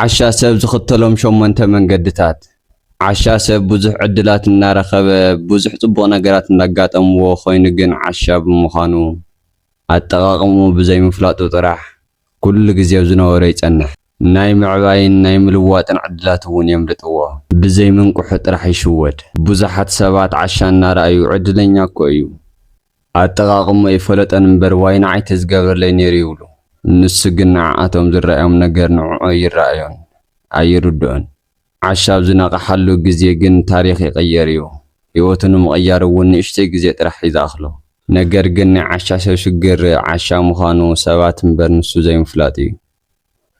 ዓሻ ሰብ ዝኽተሎም ሸሞንተ መንገድታት። ዓሻ ሰብ ብዙሕ ዕድላት እናረኸበ፣ ብዙሕ ጽቡቕ ነገራት እንዳጋጠምዎ ኮይኑ ግን ዓሻ ብምዃኑ፣ ኣጠቓቕምኡ ብዘይምፍላጡ ጥራሕ ኩሉ ግዜ ኣብ ዝነበሮ ይጸንሕ። ናይ ምዕባይን ናይ ምልዋጥን ዕድላት'ውን የምልጥዎ። ብዘይምንቅሑ ጥራሕ ይሽወድ። ብዙሓት ሰባት ዓሻ እናረኣዩ ዕድለኛ'ኮ እዩ፣ ኣጠቓቕምኡ ኣይፈለጦን እምበር ዋይ ንዓይ ተዝገብረለይ ነይሩ ይብሉ። ንሱ ግን ንዓኣቶም ዝረኣዮም ነገር ንዕኡ ኣይረኣዮን፣ ኣይርድኦን። ዓሻ ኣብ ዝነቕሓሉ ግዜ ግን ታሪኽ ይቕየር እዩ። ህይወቱ ንምቕያር እውን ንእሽተይ ግዜ ጥራሕ እዩ ዝኣኽሎ። ነገር ግን ናይ ዓሻ ሰብ ሽግር ዓሻ ምዃኑ ሰባት እምበር ንሱ ዘይምፍላጡ እዩ።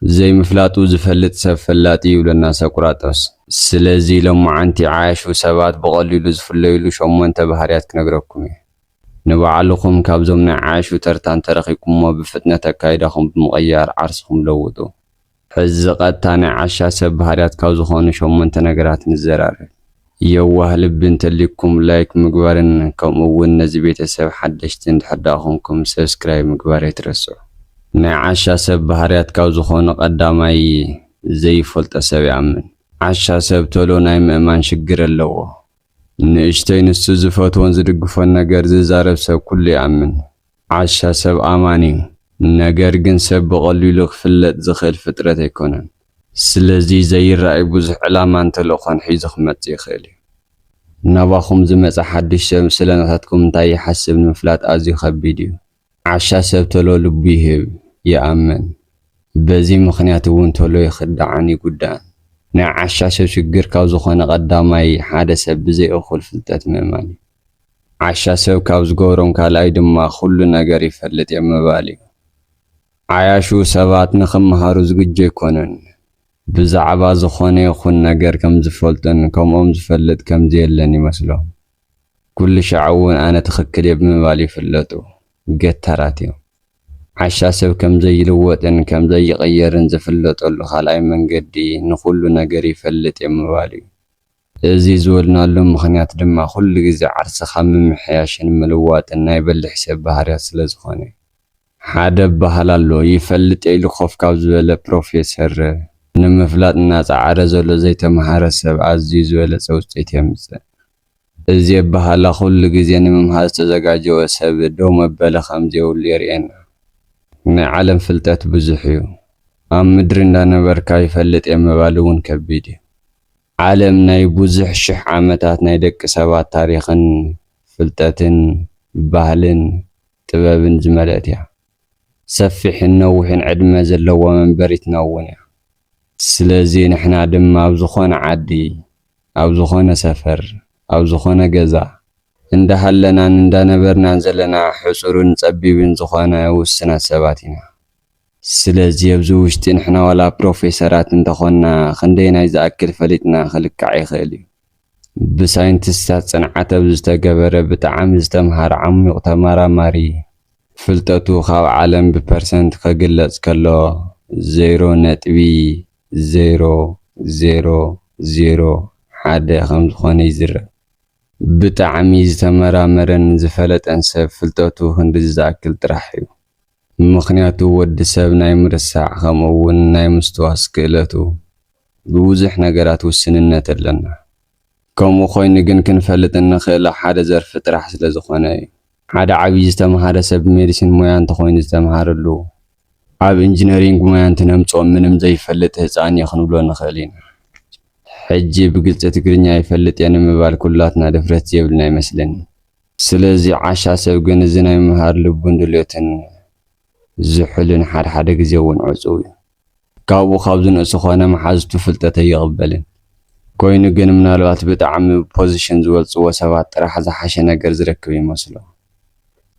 ዘይምፍላጡ ዝፈልጥ ሰብ ፈላጢ ይብለና ሰቁራጦስ። ስለዚ ሎማዓንቲ ዓያሹ ሰባት ብቀሊሉ ዝፍለዩሉ ሸሞንተ ባህርያት ክነግረኩም እየ። ንባዕልኹም ካብዞም ናይ ዓያሹ ተርታ እንተረኺብኩሞ ብፍጥነት ኣካይዳኹም ብምቕያር ዓርስኹም ለውጡ። ሕዚ ቐጥታ ናይ ዓሻ ሰብ ባህርያት ካብ ዝኾኑ ሸሞንተ ነገራት ንዘራረብ። የዋህ ልቢ እንተልዩኩም ላይክ ምግባርን ከምኡ ውን ነዚ ቤተሰብ ሓደሽቲ እንድሕር ድኣ ኮንኩም ሰብስክራይብ ምግባር ኣይትረስዑ። ናይ ዓሻ ሰብ ባህርያት ካብ ዝኾኑ ቀዳማይ ዘይፈልጦ ሰብ ይኣምን። ዓሻ ሰብ ቶሎ ናይ ምእማን ሽግር ኣለዎ። ንእሽተይ ንሱ ዝፈትዎን ዝድግፎን ነገር ዝዛረብ ሰብ ኩሉ ይኣምን። ዓሻ ሰብ ኣማን እዩ፣ ነገር ግን ሰብ ብቐሊሉ ክፍለጥ ዝኽእል ፍጥረት ኣይኮነን። ስለዚ ዘይረኣይ ብዙሕ ዕላማን ተልእኾን ሒዙ ክመጽእ ይኽእል እዩ። ናባኹም ዝመጸ ሓድሽ ሰብ ስለ ናታትኩም እንታይ ይሓስብ ንምፍላጥ ኣዝዩ ከቢድ እዩ። ዓሻ ሰብ ቶሎ ልቡ ይህብ፣ ይኣምን። በዚ ምኽንያት እውን ቶሎ ይኽዳዕን ይጉዳእን። ናይ ዓሻ ሰብ ሽግር ካብ ዝኾነ ቀዳማይ ሓደ ሰብ ብዘይ እኹል ፍልጠት ምእማን እዩ። ዓሻ ሰብ ካብ ዝገብሮም ካልኣይ ድማ ኩሉ ነገር ይፈልጥ እየ ምባል እዩ። ዓያሹ ሰባት ንኽመሃሩ ዝግጁ ኣይኮኑን። ብዛዕባ ዝኾነ ይኹን ነገር ከም ዝፈልጡን ከምኦም ዝፈልጥ ከም ዘየለን ይመስሎም። ኩሉ ሻዕ እውን ኣነ ትኽክል እየ ብምባል ይፍለጡ። ገታራት እዮም። ዓሻ ሰብ ከም ዘይልወጥን ከም ዘይቕየርን ዝፍለጠሉ ካልኣይ መንገዲ ንኹሉ ነገር ይፈልጥ እየ ምባል እዩ። እዚ ዝበልናሉ ምኽንያት ድማ ኩሉ ግዜ ዓርስኻ ምምሕያሽን ምልዋጥን ናይ በሊሕ ሰብ ባህርያት ስለ ዝኾነ እዩ። ሓደ ኣበሃህላ ኣሎ፣ ይፈልጥ'የ ኢሉ ኮፍ ካብ ዝበለ ፕሮፌሰር፣ ንምፍላጥ እናጸዓረ ዘሎ ዘይተመሃረ ሰብ ኣዝዩ ዝበለጸ ውጽኢት የምጽእ። እዚ ኣበሃህላ ኩሉ ግዜ ንምምሃር ዝተዘጋጀወ ሰብ ደው መበሊ ከም ዘይብሉ የርእየና። ናይ ዓለም ፍልጠት ብዙሕ'ዩ። ኣብ ምድሪ እንዳነበርካ ይፈልጥ'የ ምባል'ውን ከቢድ'ዩ። ዓለም ናይ ብዙሕ ሽሕ ዓመታት ናይ ደቂ ሰባት ታሪኽን ፍልጠትን ባህልን ጥበብን ዝመልእት እያ። ሰፊሕን ነዊሕን ዕድመ ዘለዋ መንበሪትና እውን እያ። ስለዚ ንሕና ድማ ኣብ ዝኾነ ዓዲ፣ ኣብ ዝኾነ ሰፈር፣ ኣብ ዝኾነ ገዛ፣ እንዳሃለናን እንዳነበርናን ዘለና ሕጹርን ጸቢብን ዝኾነ ውስናት ሰባት ኢና። ስለዚ ኣብዚ ውሽጢ ንሕና ዋላ ፕሮፌሰራት እንተኾንና ክንደየናይ ዝኣክል ፈሊጥና ክልካዕ ይኽእል እዩ። ብሳይንቲስትታት ጽንዓት ኣብ ዝተገበረ ብጣዕሚ ዝተምሃረ ዓሚዩቕ ተመራማሪ ፍልጠቱ ካብ ዓለም ብፐርሰንት ከግለጽ ከሎ ዜሮ ነጥቢ ዜሮ ዜሮ ዜሮ ሓደ ከም ዝኾነ ይዝረብ። ብጣዕሚ ዝተመራመረን ዝፈለጠን ሰብ ፍልጠቱ ክንድዚ ዝኣክል ጥራሕ እዩ። ምኽንያቱ ወዲ ሰብ ናይ ምርሳዕ ከምኡ እውን ናይ ምስትዋስ ክእለቱ ብብዙሕ ነገራት ውስንነት ኣለና። ከምኡ ኮይኑ ግን ክንፈልጥ እንኽእለ ሓደ ዘርፊ ጥራሕ ስለ ዝኾነ እዩ። ሓደ ዓብዪ ዝተምሃረ ሰብ ሜዲሲን ሞያ እንተኾይኑ ዝተምሃረሉ ኣብ ኢንጅነሪንግ ሞያ እንትነምፅኦ ምንም ዘይፈልጥ ህፃን እዩ ክንብሎ ንኽእል ኢና። ሕጂ ብግልፂ ትግርኛ ይፈልጥ እየ ንምባል ኩላትና ድፍረት ዘየብልና ይመስለኒ። ስለዚ ዓሻ ሰብ ግን እዚ ናይ ምምሃር ልቡን ድልዮትን ዝሑልን ሓደ ሓደ ግዜ እውን ዕጹው እዩ። ካብኡ ካብ ዝንእሱ ኮነ መሓዙቱ ፍልጠት ኣይቕበልን። ኮይኑ ግን ምናልባት ብጣዕሚ ብፖዝሽን ዝበልጽዎ ሰባት ጥራሕ ዝሓሸ ነገር ዝረክብ ይመስሎ።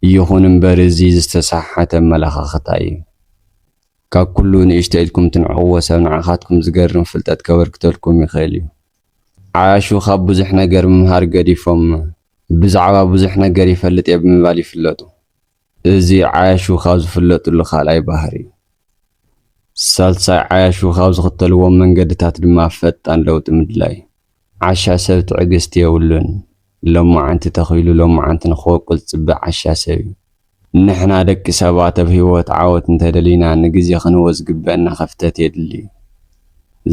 ይኹን እምበር እዚ ዝተሰሓሓተ ኣመለኻኽታ እዩ። ካብ ኩሉ ንእሽቶ ኢልኩም ትንዕቕዎ ሰብ ንዓኻትኩም ዝገርም ፍልጠት ከበርክተልኩም ይኽእል እዩ። ዓያሹ ካብ ብዙሕ ነገር ምምሃር ገዲፎም ብዛዕባ ብዙሕ ነገር ይፈልጥ እየ ብምባል ይፍለጡ። እዚ ዓያሹ ካብ ዝፍለጥሉ ካልኣይ ባህሪ እዩ። ሳልሳይ ዓያሹ ካብ ዝኽተልዎም መንገድታት ድማ ፈጣን ለውጢ ምድላይ እዩ። ዓሻ ሰብ ትዕግስቲ የብሉን። ሎማዓንቲ ተኺሉ ሎማዓንቲ ንክቦቅል ዝፅበ ዓሻ ሰብ እዩ። ንሕና ደቂ ሰባት ኣብ ህይወት ዓወት እንተደሊና ንግዜ ክንህቦ ዝግበእና ክፍተት የድሊ።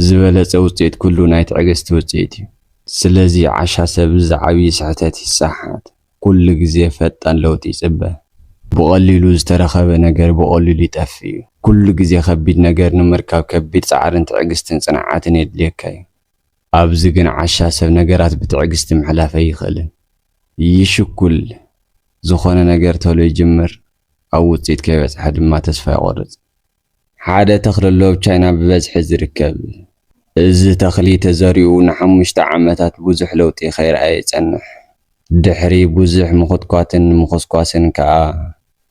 ዝበለጸ ውጽኢት ኩሉ ናይ ትዕግስቲ ውጽኢት እዩ። ስለዚ ዓሻ ሰብ እዚ ዓብዪ ስሕተት ይሰሓሓት። ኩሉ ግዜ ፈጣን ለውጢ ይጽበ። ብቐሊሉ ዝተረኸበ ነገር ብቐሊሉ ይጠፍእ እዩ። ኩሉ ግዜ ከቢድ ነገር ንምርካብ ከቢድ ጻዕርን ትዕግስትን ጽንዓትን የድልየካ እዩ። ኣብዚ ግን ዓሻ ሰብ ነገራት ብትዕግስቲ ምሕላፍ ኣይኽእልን። ይሽኩል፣ ዝኾነ ነገር ተሎ ይጅምር፣ ኣብ ውጽኢት ከይበጽሐ ድማ ተስፋ ይቖርጽ። ሓደ ተኽሊ ሎብ ቻይና ብበዝሒ ዝርከብ። እዚ ተኽሊ ተዘሪኡ ንሓሙሽተ ዓመታት ብዙሕ ለውጢ ከይርኣየ ይጸንሕ። ድሕሪ ብዙሕ ምኹትኳትን ምኹስኳስን ከኣ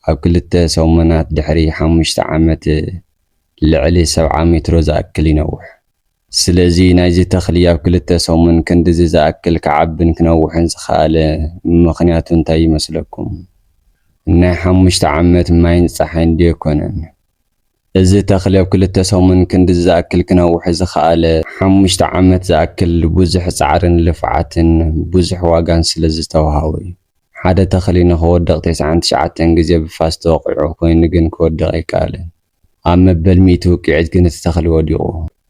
ኣብ ክልተ ሰሙናት ድሕሪ ሓሙሽተ ዓመት ልዕሊ ሰብዓ ሜትሮ ዝኣክል ይነውሕ። ስለዚ ናይዚ ተኽሊ ኣብ ክልተ ሰሙን ክንድዚ ዝኣክል ክዓብን ክነውሕን ዝኸኣለ ምኽንያቱ እንታይ ይመስለኩም? ናይ ሓሙሽተ ዓመት ማይን ጸሓይን ድዮ ኣይኮነን? እዚ ተኽሊ ኣብ ክልተ ሰሙን ክንድዚ ዝኣክል ክነውሕ ዝኸኣለ ሓሙሽተ ዓመት ዝኣክል ብዙሕ ጻዕርን ልፍዓትን ብዙሕ ዋጋን ስለ ዝተውሃቦ እዩ። ሓደ ተኽሊ ንኽወድቕ ቴስዓን ትሽዓተን ግዜ ብፋስ ተወቒዑ ኮይኑ ግን ክወድቕ ኣይከኣለን። ኣብ መበል ሚእቲ ውቅዒት ግን እቲ ተኽሊ ወዲቑ።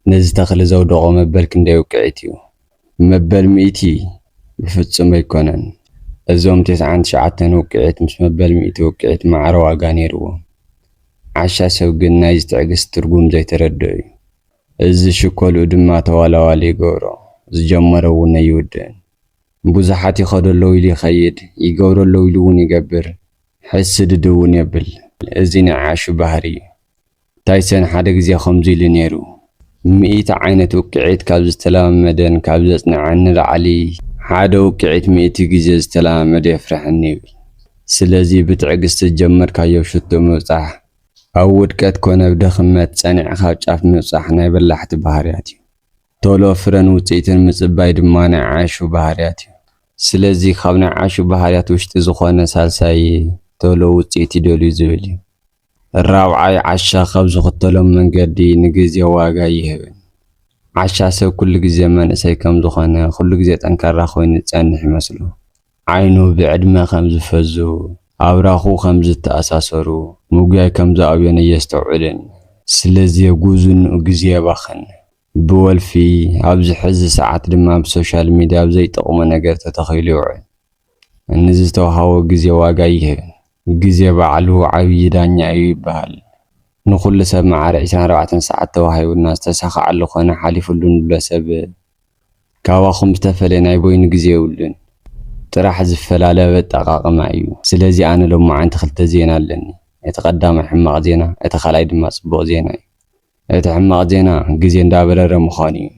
ነዚ ተኽሊ ዘውደቖ መበል ክንደይ ውቅዒት እዩ? መበል ሚእቲ? ብፍጹም ኣይኮነን። እዞም ተስዓን ትሽዓተን ውቅዒት ምስ መበል ሚእቲ ውቅዒት ማዕረ ዋጋ ነይርዎም። ዓሻ ሰብ ግን ናይዚ ትዕግስቲ ትርጉም ዘይተረድኦ እዩ። እዚ ሽኮልኡ ድማ ተዋላዋሊ ይገብሮ፣ ዝጀመሮ እውን ኣይውድእን። ብዙሓት ይኸዶ ኣለዉ ኢሉ ይኸይድ፣ ይገብሮ ኣለዉ ኢሉ እውን ይገብር። ሕስድ ድውን የብል እዚ ናይ ዓሹ ባህሪ እዩ ታይሰን ሓደ ግዜ ከምዙይ ኢሉ ነይሩ ሚኢቲ ዓይነት ውቅዒት ካብ ዝተለማመደን ካብ ዘፅነዐን ንላዕሊ ሓደ ውቅዒት ሚኢቲ ግዜ ዝተለማመደ የፍረሐኒ ይብል ስለዚ ብትዕግስቲ ዝጀመርካዮ ሽቶ ምብፃሕ ኣብ ውድቀት ኮነ ብ ድኽመት ፀኒዕኻ ኣብ ጫፍ ምብፃሕ ናይ በላሕቲ ባህርያት እዩ ቶሎ ፍረን ውጽኢትን ምጽባይ ድማ ናይ ዓሹ ባህርያት እዩ። ስለዚ ካብ ናይ ዓሹ ባህርያት ውሽጢ ዝኾነ ሳልሳይ ቶሎ ውጽኢት ይደልዩ ዝብል እዩ። ራብዓይ ዓሻ ካብ ዝኽተሎም መንገዲ ንግዜ ዋጋ ይህብን። ዓሻ ሰብ ኩሉ ግዜ መንእሰይ ከም ዝኾነ ኩሉ ግዜ ጠንካራ ኮይኑ ዝጸንሕ ይመስሎ። ዓይኑ ብዕድመ ከም ዝፈዙ፣ ኣብራኹ ከም ዝተኣሳሰሩ፣ ምጉያይ ከም ዝኣብዮን ኣየስተውዕልን። ስለ ዜጉዝንኡ ግዜ የባኽን። ብወልፊ፣ ኣብዚ ሕዚ ሰዓት ድማ ኣብ ሶሻል ሚድያ ኣብ ዘይጠቕሞ ነገር ተተኺሉ ይውዕል። ንዝተውሃቦ ግዜ ዋጋ ኣይህብን። ግዜ ባዕሉ ዓብዪ ዳኛ እዩ ይብሃል። ንኹሉ ሰብ መዓረ ዕስራን ኣርባዕተን ሰዓት ተዋሂቡና ዝተሳኸዓሉ ኮነ ሓሊፉሉ ንብሎ ሰብ ካባኹም ዝተፈለየ ናይ በይኑ ግዜ የብሉን ጥራሕ ዝፈላለ ኣብ ኣጠቃቅማ እዩ ስለዚ ኣነ ሎማዓንቲ ክልተ ዜና ኣለኒ እቲ ቀዳማይ ሕማቅ ዜና እቲ ካልኣይ ድማ ጽቡቅ ዜና እዩ እቲ ሕማቅ ዜና ግዜ እንዳበረረ ምዃኑ እዩ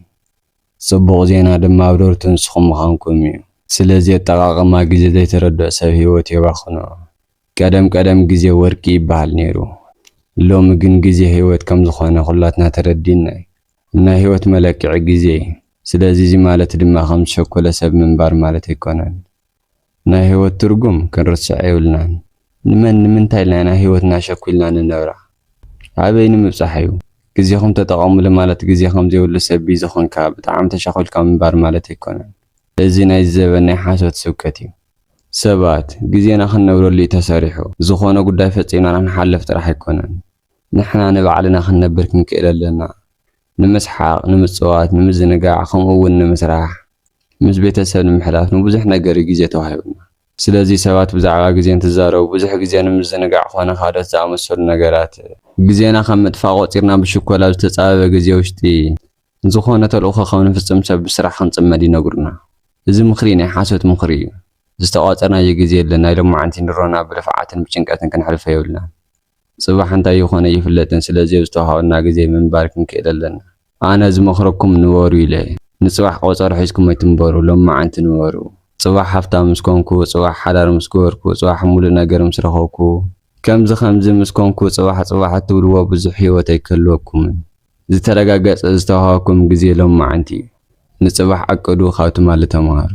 ጽቡቅ ዜና ድማ ኣብረርቲ ንስኹም ምዃንኩም እዩ ስለዚ ኣጠቃቅማ ግዜ ዘይተረድኦ ሰብ ሂወቱ የባኽኖ ቀደም ቀደም ግዜ ወርቂ ይበሃል ኔሩ ሎሚ ግን ግዜ ሂወት ከምዝኾነ ኩላትና ተረዲእና እዩ ናይ ህይወት መለክዒ ግዜ እዩ። ስለዚ እዚ ማለት ድማ ከም ዝሸኮለ ሰብ ምንባር ማለት ኣይኮነን። ናይ ህይወት ትርጉም ክንርስዕ የብልናን። ንመን ንምንታይ ኢልና ኢና ህይወትና ሸኩልና ንነብራ? ኣበይ ንምብጻሕ እዩ? ግዜኹም ተጠቐምሉ ማለት ግዜ ከም ዘይብሉ ሰብ ቢዚ ኮንካ ብጣዕሚ ተሻኩልካ ምንባር ማለት ኣይኮነን። እዚ ናይዚ ዘበን ናይ ሓሶት ስብከት እዩ። ሰባት፣ ግዜና ክንነብረሉ እዩ ተሰሪሑ። ዝኾነ ጉዳይ ፈጺምና ክንሓልፍ ጥራሕ ኣይኮነን። ንሕና ንባዕልና ክንነብር ክንክእል ኣሎና። ንምስሓቕ፣ ንምጽዋት፣ ንምዝንጋዕ ከምኡ እውን ንምስራሕ፣ ምስ ቤተሰብ ንምሕላፍ ንብዙሕ ነገር እዩ ግዜ ተዋሂቡና። ስለዚ ሰባት ብዛዕባ ግዜ እንትዛረቡ ብዙሕ ግዜ ንምዝንጋዕ ኮነ ካልኦት ዝኣመሰሉ ነገራት፣ ግዜና ከም ምጥፋእ ቆጺርና ብሽኮል ኣብ ዝተጻበበ ግዜ ውሽጢ ዝኾነ ተልእኾ ከም ንፍጽም ሰብ ብስራሕ ክንጽመድ ይነግሩና። እዚ ምኽሪ ናይ ሓሶት ምኽሪ እዩ። ዝተቋጸርናዮ ግዜ የለን፣ ናይ ሎማዓንቲ ንሮና ብልፍዓትን ብጭንቀትን ክንሕልፎ የብልናን። ጽባሕ እንታይ ይኾን ኣይፍለጥን ስለዚ ኣብ ዝተዋሃበና ግዜ ምንባር ክንክእል ኣለና። ኣነ ዝመኽረኩም ንበሩ ኢለ። ንጽባሕ ቆጸሮ ሒዝኩም ኣይትንበሩ ሎምዓንቲ ንበሩ። ጽባሕ ሃፍታም ምስ ኮንኩ፣ ጽባሕ ሓዳር ምስ ገበርኩ፣ ጽባሕ ሙሉእ ነገር ምስ ረኸብኩ፣ ከምዚ ከምዚ ምስ ኮንኩ ጽባሕ ጽባሕ እትብልዎ ብዙሕ ሂወት ኣይክህልወኩምን። ዝተረጋገጸ ዝተዋሃበኩም ግዜ ሎምዓንቲ እዩ። ንጽባሕ ዓቅዱ ካብ ትማሊ ተማሃሩ።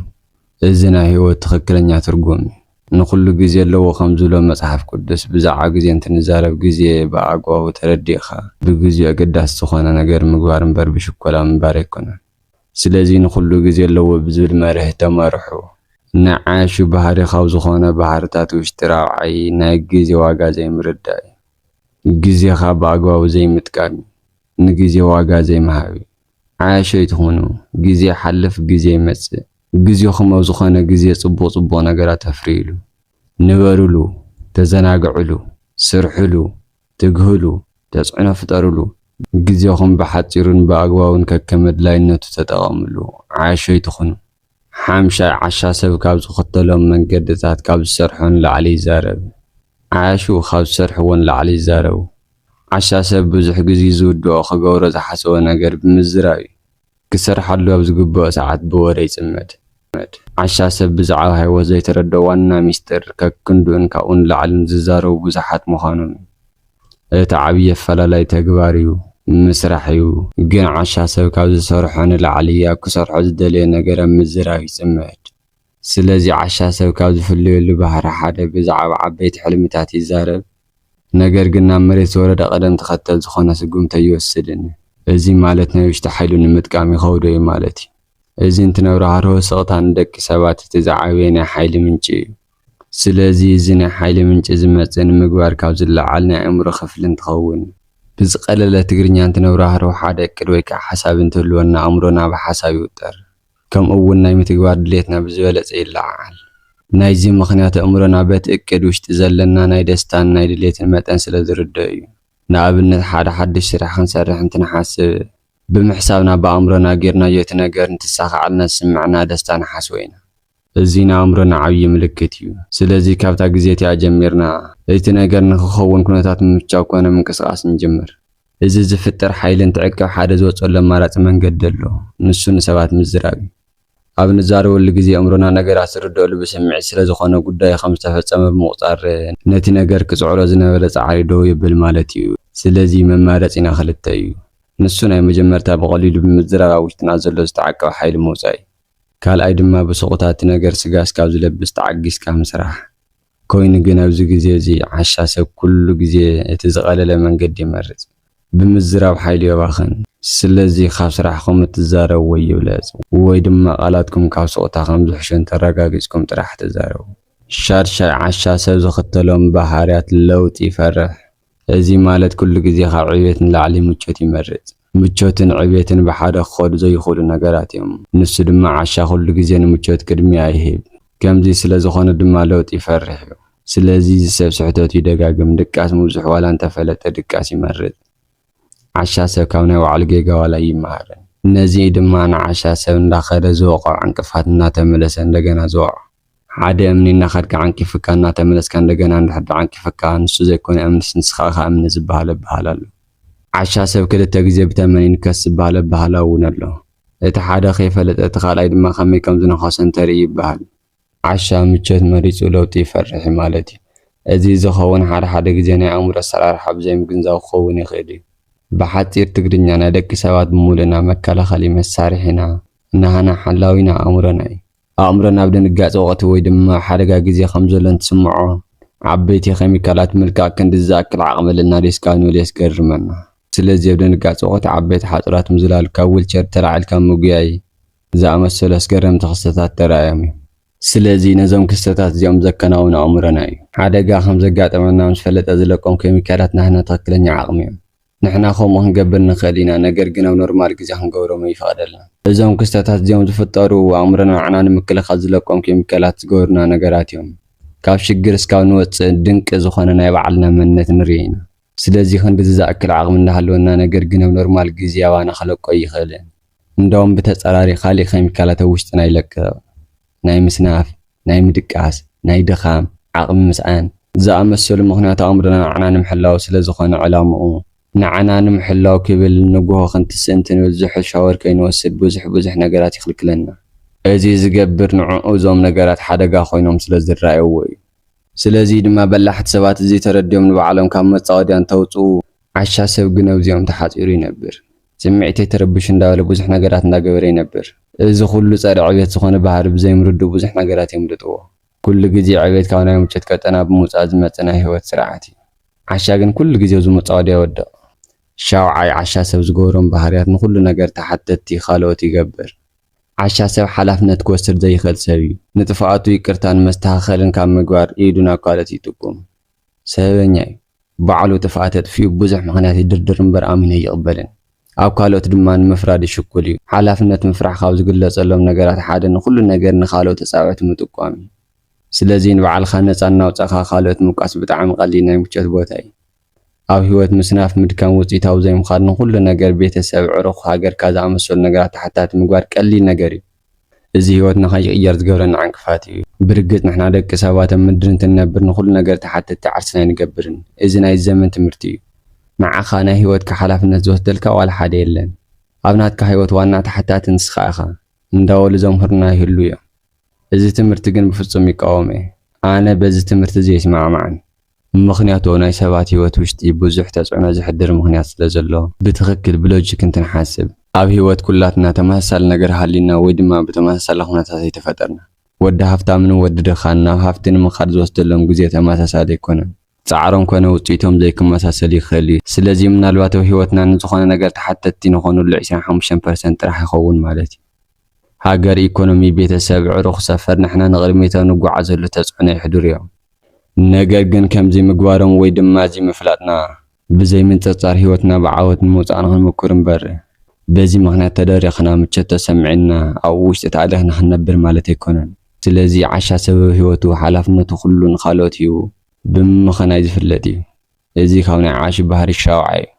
እዚ ናይ ሕይወት ትኽክለኛ ትርጉም እዩ። ንኹሉ ግዜ ኣለዎ ከም ዝብሎ መጽሓፍ ቅዱስ ብዛዕባ ግዜ እንትንዛረብ ግዜ ብኣግባቡ ተረዲእኻ ብግዚኡ ኣገዳሲ ዝኾነ ነገር ምግባር እምበር ብሽኮላ ምንባር ኣይኮነን። ስለዚ ንኹሉ ግዜ ኣለዎ ብዝብል መርህ ተመርሑ ንዓያሹ ባህሪ ካብ ዝኾነ ባህርታት ውሽጢ ራብዓይ ናይ ግዜ ዋጋ ዘይምርዳእ እዩ። ግዜኻ ብኣግባቡ ዘይምጥቃም እዩ። ንግዜ ዋጋ ዘይምሃብ እዩ። ዓያሹ ኣይትኹኑ ግዜ ይሓልፍ ግዜ ይመጽእ ግዜኹም ኣብ ዝኾነ ግዜ ጽቡቕ ጽቡቕ ነገራት ኣፍርይሉ ንበርሉ ተዘናግዕሉ ስርሕሉ ትግህሉ ተጽዕኖ ፍጠርሉ ግዜኹም ብሓጺሩን ብኣግባቡን ከከም ኣድላይነቱ ተጠቐምሉ ዓያሹ ኣይትኹኑ። ሓምሻይ ዓሻ ሰብ ካብ ዝኽተሎም መንገድታት ካብ ዝሰርሖ ንላዕሊ ይዛረብ። ዓያሹ ካብ ዝሰርሕዎ ንላዕሊ ይዛረቡ። ዓሻ ሰብ ብዙሕ ግዚ ዝውድኦ ክገብሮ ዝሓሰቦ ነገር ብምዝራብ እዩ። ክሰርሓሉ ኣብ ዝግበኦ ሰዓት ብወረ ይጽመድ። ዓሻ ሰብ ብዛዕባ ህይወት ዘይተረድኦ ዋና ሚስጥር ከክንድኡን ካብኡ ንላዕልን ዝዛረቡ ብዙሓት ምዃኖም እዩ። እቲ ዓብዪ ኣፈላላይ ተግባር እዩ፣ ምስራሕ እዩ። ግን ዓሻ ሰብ ካብ ዝሰርሖ ንላዕሊ ኣብ ክሰርሖ ዝደለዮ ነገር ኣብ ምዝራብ ይፅመድ። ስለዚ ዓሻ ሰብ ካብ ዝፍለየሉ ባህሪ ሓደ ብዛዕባ ዓበይቲ ሕልምታት ይዛረብ፣ ነገር ግን ናብ መሬት ዝወረደ ቅደም ተኸተል ዝኾነ ስጉምቲ ኣይወስድን። እዚ ማለት ናይ ውሽጢ ሓይሉ ንምጥቃም ይኸብዶ እዩ ማለት እዩ። እዚ እንትነብሮ ሃርሆ ስቕታ ንደቂ ሰባት እቲ ዝዓበየ ናይ ሓይሊ ምንጪ እዩ። ስለዚ እዚ ናይ ሓይሊ ምንጪ ዝመጽእ ንምግባር ካብ ዝለዓል ናይ ኣእምሮ ክፍሊ እንትኸውን፣ ብዝቐለለ ትግርኛ እንትነብራህርሆ ሓደ እቅድ ወይ ከኣ ሓሳብ እንትህልወና ኣእምሮና ብሓሳብ ይውጠር ከምኡ እውን ናይ ምትግባር ድሌትና ብዝበለጸ ይለዓዓል። ናይዚ ምኽንያት ኣእምሮና በቲ እቅድ ውሽጢ ዘለና ናይ ደስታን ናይ ድሌትን መጠን ስለ ዝርደኦ እዩ። ንኣብነት ሓደ ሓድሽ ስራሕ ክንሰርሕ እንትንሓስብ ብምሕሳብና ብኣእምሮና ጌርናዮ እቲ ነገር እንትሳኻዓልና ዝስመዐና ደስታ ንሓስቦ ኢና። እዚ ንኣእምሮና ዓብዪ ምልክት እዩ። ስለዚ ካብታ ግዜ እቲኣ ጀሚርና እቲ ነገር ንኽኸውን ኩነታት ምምቻው ኮነ ምንቅስቓስ ንጅምር። እዚ ዝፍጠር ሓይሊ እንትዕቀብ ሓደ ዝወፀሉ ኣማራፂ መንገዲ ኣሎ፣ ንሱ ንሰባት ምዝራብ እዩ። ኣብ ንዛረበሉ ግዜ ኣእምሮና ነገራት ዝርደኣሉ ብስምዒት ስለዝኾነ ጉዳዩ ከምዝተፈፀመ ብምቑፃር ነቲ ነገር ክፅዕሮ ዝነበረ ፃዕሪ ደው የብል ማለት እዩ። ስለዚ መማረፂና ክልተ እዩ፣ ንሱ ናይ መጀመርታ ብቐሊሉ ብምዝራብ ኣብ ውሽጥና ዘሎ ዝተዓቀበ ሓይሊ ምውፃእ እዩ። ካልኣይ ድማ ብሱቁታ እቲ ነገር ስጋ እስካብ ዝለብስ ተዓጊስካ ምስራሕ። ኮይኑ ግን ኣብዚ ግዜ እዚ ዓሻ ሰብ ኩሉ ግዜ እቲ ዝቀለለ መንገዲ ይመርጽ። ብምዝራብ ሓይሉ የባኽን። ስለዚ ካብ ስራሕኹም እትዛረብዎ ይብለጽ ወይ ድማ ቃላትኩም ካብ ሱቁታ ከም ዝሕሹ እንተረጋጊጽኩም ጥራሕ ተዛረቡ። ሻድሻይ ዓሻ ሰብ ዝኽተሎም ባህርያት ለውጢ ይፈርሕ። እዚ ማለት ኩሉ ግዜ ካብ ዕብየት ንላዕሊ ምቾት ይመርጽ። ምቾትን ዕቤትን ብሓደ ክኸዱ ዘይኽእሉ ነገራት እዮም። ንሱ ድማ ዓሻ ኩሉ ግዜ ንምቾት ቅድሚያ ይህብ። ከምዚ ስለ ዝኾነ ድማ ለውጢ ይፈርሕ እዩ። ስለዚ እዚ ሰብ ስሕተቱ ይደጋግም፣ ድቃስ ምብዝሑ ዋላ እንተፈለጠ ድቃስ ይመርጽ። ዓሻ ሰብ ካብ ናይ ባዕሉ ጌጋ ዋላ ኣይመሃርን። ነዚ እዩ ድማ ንዓሻ ሰብ እንዳኸደ ዝወቕዖ ዕንቅፋት እናተመለሰ እንደገና ዝወቕዖ። ሓደ እምኒ እናኸድካ ዓንቂፍካ እናተመለስካ እንደገና እንድሕር ተዓንቂፍካ ንሱ ዘይኮነ እምንስ ንስኻ እኻ እምኒ ዝበሃል ኣበሃህላ ኣሎ። ዓሻ ሰብ ክልተ ግዜ ብተመን ይንከስ ዝበሃል ኣበሃህላ እውን ኣሎ። እቲ ሓደ ከይፈለጠ እቲ ካልኣይ ድማ ከመይ ከም ዝነኸሶ እንተርኢ ይበሃል። ዓሻ ምቾት መሪጹ ለውጢ ይፈርሕ እዩ ማለት እዩ። እዚ ዝኸውን ሓደ ሓደ ግዜ ናይ ኣእምሮ ኣሰራርሓ ብዘይምግንዛብ ክኸውን ይኽእል እዩ። ብሓጺር ትግርኛ ናይ ደቂ ሰባት ብምሉእና መከላኸሊ መሳርሒና፣ ናህና ሓላዊና ኣእምሮና እዩ። ኣእምሮ ናብ ድንጋጸ ወቕቲ ወይ ድማ ሓደጋ ግዜ ከም ዘሎ እንትስምዖ፣ ዓበይቲ ኬሚካላት ምልካዕ ክንድዚ ዝኣክል ዓቕሚ ኣልናዶ እስካብ ንብል የስገርመና። ስለዚ ኣብ ድንጋጸ ወቕቲ ዓበይቲ ሓጹራት ምዝላል፣ ካብ ዊልቸር ተላዒልካ ምጉያይ ዝኣመሰሉ ኣስገረምቲ ክስተታት ተራእዮም እዮም። ስለዚ ነዞም ክስተታት እዚኦም ዘከናውን ኣእምሮና እዩ። ሓደጋ ከም ዘጋጥመና ምስ ፈለጠ ዝለቆም ኬሚካላት ናህና ትኽክለኛ ዓቕሚ እዮም። ንሕና ከምኡ ክንገብር ንክእል ኢና ነገር ግን ኣብ ኖርማል ግዜ ክንገብሮም ኣይፍቀደልናን። እዞም ክስተታት እዚኦም ዝፍጠሩ ኣእምሮና ንዓና ንምክልኻል ዝለቆም ኬሚካላት ዝገበሩና ነገራት እዮም። ካብ ሽግር እስካብ ንወጽእ ድንቂ ዝኾነ ናይ ባዕልና መንነት ንርኢ ኢና። ስለዚ ክንድዚ ዝኣክል ዓቅሚ እንዳሃለወና ነገር ግን ኣብ ኖርማል ግዜ ኣባና ክለቆ ኣይክእልን። እንደውም ብተፃራሪ ካሊእ ኬሚካላት ኣብ ውሽጥና ይለቅቕ። ናይ ምስናፍ፣ ናይ ምድቃስ፣ ናይ ድኻም፣ ዓቕሚ ምስኣን ዝኣመሰሉ ምኽንያት ኣእምሮና ንዓና ንምሕላው ስለ ዝኾነ ዕላምኡ። ንዓና ንምሕላው ክብል ንጉሆ ክንትስእ እንትንብል ዝሑል ሻወር ከይንወስድ ብዙሕ ብዙሕ ነገራት ይኽልክለና። እዚ ዝገብር ንዕኡ እዞም ነገራት ሓደጋ ኮይኖም ስለ ዝረኣይዎ እዩ። ስለዚ ድማ በላሕቲ ሰባት እዚ ተረዲኦም ንባዕሎም ካብ መፃወድያ እንተውፅኡ ዓሻ ሰብ ግን ኣብዚኦም ተሓፂሩ ይነብር። ስምዒተይ ተረቢሹ እንዳበለ ብዙሕ ነገራት እንዳገበረ ይነብር። እዚ ኩሉ ጸረ ዕብየት ዝኾነ ባህሪ ብዘይምርድኡ ብዙሕ ነገራት የምልጥዎ። ኩሉ ግዜ ዕብየት ካብ ናይ ምቾት ቀጠና ብምውጻእ ዝመጽእ ናይ ህይወት ስርዓት እዩ። ዓሻ ግን ኩሉ ግዜ ኣብ'ዚ መጻወድያ ይወድቕ። ሻውዓይ፣ ዓሻ ሰብ ዝገብሮም ባህርያት ንኹሉ ነገር ተሓተትቲ ካልኦት ይገብር። ዓሻ ሰብ ሓላፍነት ክወስድ ዘይኽእል ሰብ እዩ። ንጥፍኣቱ ይቅርታን መስተኻኸልን ካብ ምግባር ኢዱ ናብ ካልኦት ይጥቁም። ሰበበኛ እዩ ባዕሉ ጥፍኣት ኣጥፊኡ ብዙሕ ምኽንያት ይድርድር እምበር ኣሚኑ ኣይቕበልን ኣብ ካልኦት ድማ ንምፍራድ ሽኩል እዩ ሓላፍነት ምፍራሕ ካብ ዝግለፀሎም ነገራት ሓደ ንኹሉ ነገር ንኻልኦት ተፃብዕቲ ምጥቋም እዩ ስለዚ ንባዕልኻ ነፃ እናውፃእኻ ካልኦት ምውቃስ ብጣዕሚ ቐሊል ናይ ምቾት ቦታ እዩ ኣብ ህይወት ምስናፍ ምድካም ውፅኢታዊ ዘይምዃን ንኹሉ ነገር ቤተሰብ ዕሩኽ ሃገርካ ዝኣመሰሉ ነገራት ተሓታቲ ምግባር ቀሊል ነገር እዩ እዚ ህይወትና ከይቅየር ዝገብረና ዕንቅፋት እዩ። ብርግጽ ንሕና ደቂ ሰባት ኣብ ምድሪ እንትንነብር ንኹሉ ነገር ተሓተቲ ዓርስና ኣይንገብርን። እዚ ናይዚ ዘመን ትምህርቲ እዩ። ንዓኻ ናይ ህይወትካ ሓላፍነት ዝወስደልካ ዋላ ሓደ የለን። ኣብ ናትካ ህይወት ዋና ተሓታቲ ንስኻ ኢኻ እንዳበሉ ዘምህሩና ይህልዉ እዮም። እዚ ትምህርቲ ግን ብፍጹም ይቃወም እየ። ኣነ በዚ ትምህርቲ እዚ ኣይስማዕማዕን። ምኽንያቱ ናይ ሰባት ህይወት ውሽጢ ብዙሕ ተፅዕኖ ዘሕድር ምኽንያት ስለ ዘሎ። ብትኽክል ብሎጂክ እንትንሓስብ። ኣብ ህይወት ኩላትና ተመሳሳሊ ነገር ሃልዩና ወይ ድማ ብተመሳሳሊ ኩነታት ኣይተፈጠርናን። ወዲ ሃፍታምን ወዲ ድኻን ናብ ሃፍቲ ንምኻድ ዝወስደሎም ግዜ ተመሳሳሊ ኣይኮነን። ፃዕሮም ኮነ ውፅኢቶም ዘይክመሳሰል ይኽእል እዩ። ስለዚ ምናልባት ኣብ ህይወትና ንዝኾነ ነገር ተሓተትቲ ንኾነሉ ዒስራን ሓሙሽተን ፐርሰንት ጥራሕ ይኸውን ማለት እዩ። ሃገር ኢኮኖሚ ቤተሰብ ዕሩኽ ሰፈር ንሕና ንቕድሚቶ ንጎዓዘሉ ተፅዕኖ የሕድሩ እዮም ነገር ግን ከምዚ ምግባሮም ወይ ድማ እዚ ምፍላጥና ብዘይ ምንፅርፃር ሂወትና ብዓወት ንምውፃእ ንኽንሙኩር እምበር በዚ ምኽንያት ተደሪኽና ምቾት ተሰሚዕና ኣብኡ ውሽጢ ተኣሊኽና ክንነብር ማለት ኣይኮነን ስለዚ ዓሻ ሰበብ ሂወቱ ሓላፍነቱ ኩሉ ንኻልኦት ሂቡ ብምምኽናይ ዝፍለጥ እዩ። እዚ ካብ ናይ ዓሽ ባህሪ ሻውዓይ እዩ።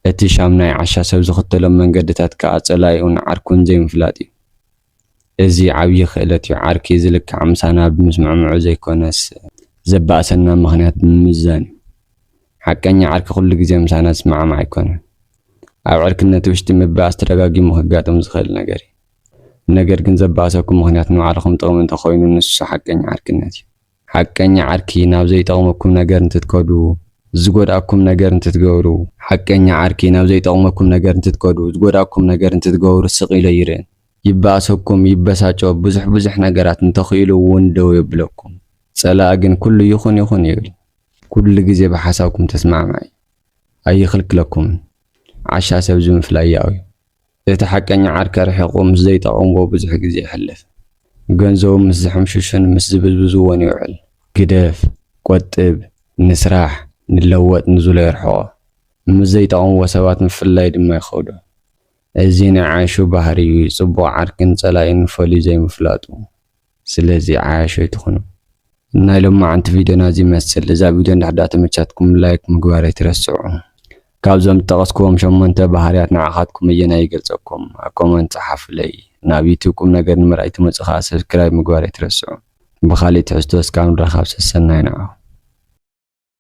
እቲ ሻምናይ ዓሻ ሰብ ዝኽተሎም መንገድታት ከኣ ጸላኢኡን ዓርኩን ዘይምፍላጥ እዩ። እዚ ዓብዪ ክእለት እዩ፣ ዓርኪ ዝልካዕ ምሳና ብምስምዕምዑ ዘይኮነስ፣ ዘባእሰና ምኽንያት ብምምዛን እዩ፣ ሓቀኛ ዓርኪ ኩሉ ግዜ ምሳና ዝስማዕማዕ ኣይኮነን፣ ኣብ ዕርክነት ውሽጢ ምባእስ ተደጋጊሙ ከጋጥም ዝኽእል ነገር እዩ፣ ነገር ግን ዘባእሰኩም ምኽንያት ንባዕልኹም ጥቕሚ እንተኾይኑ ንሱ ሓቀኛ ዓርክነት እዩ። ሓቀኛ ዓርኪ ናብ ዘይጠቕመኩም ነገር እንትትከዱ ዝጎድኣኩም ነገር እንትትገብሩ። ሓቀኛ ዓርኪ ናብ ዘይጠቕመኩም ነገር እንትትከዱ ዝጎድኣኩም ነገር እንትትገብሩ ስቕ ኢሎ ኣይርእን። ይበኣሰኩም፣ ይበሳጮ፣ ብዙሕ ብዙሕ ነገራት እንተኽኢሉ እውን ደው የብለኩም። ፀላኢ ግን ኩሉ ይኹን ይኹን ይብል። ኩሉ ግዜ ብሓሳብኩም ተስማዕማዒ እዩ። ኣይኽልክለኩምን። ዓሻ ሰብ ዝምፍላይ ያኡ እዩ። እቲ ሓቀኛ ዓርከ ርሒቑ ምስ ዘይጠቕምዎ ብዙሕ ግዜ የሕልፍ። ገንዘቡ ምስ ዝሕምሽሹን ምስ ዝብዝብዝዎን ይውዕል። ግደፍ፣ ቆጥብ፣ ንስራሕ፣ ንለወጥ ንዝሎ የርሕቖ። ምስ ዘይጠቕምዎ ሰባት ምፍልላይ ድማ ይኸብዶ። እዚ ናይ ዓሹ ባህሪ'ዩ፣ ጽቡቕ ዓርክን ጸላኢን ፈልዩ ዘይምፍላጡ። ስለዚ ዓያሹ ኣይትኹኑ። ናይ ሎማዓንቲ ቪድዮና እዚ ይመስል። እዛ ቪድዮ እንድሕር ድኣ ተመቻትኩም ላይክ ምግባር ኣይትረስዑ። ካብዞም ዝጠቐስክዎም ሸሞንተ ባህርያት ንዓኻትኩም ኣየናይ ይገልጸኩም? ኣብ ኮመንት ጸሓፉለይ። ናብ ዩቱብ ቁምነገር ንምርኣይ ትመጹ ከኣ ሰብስክራይብ ምግባር ኣይትረስዑ። ብኻሊእ ትሕዝቶ እስካብ ንራኻብ ሰሰናዩ ንዓኹም።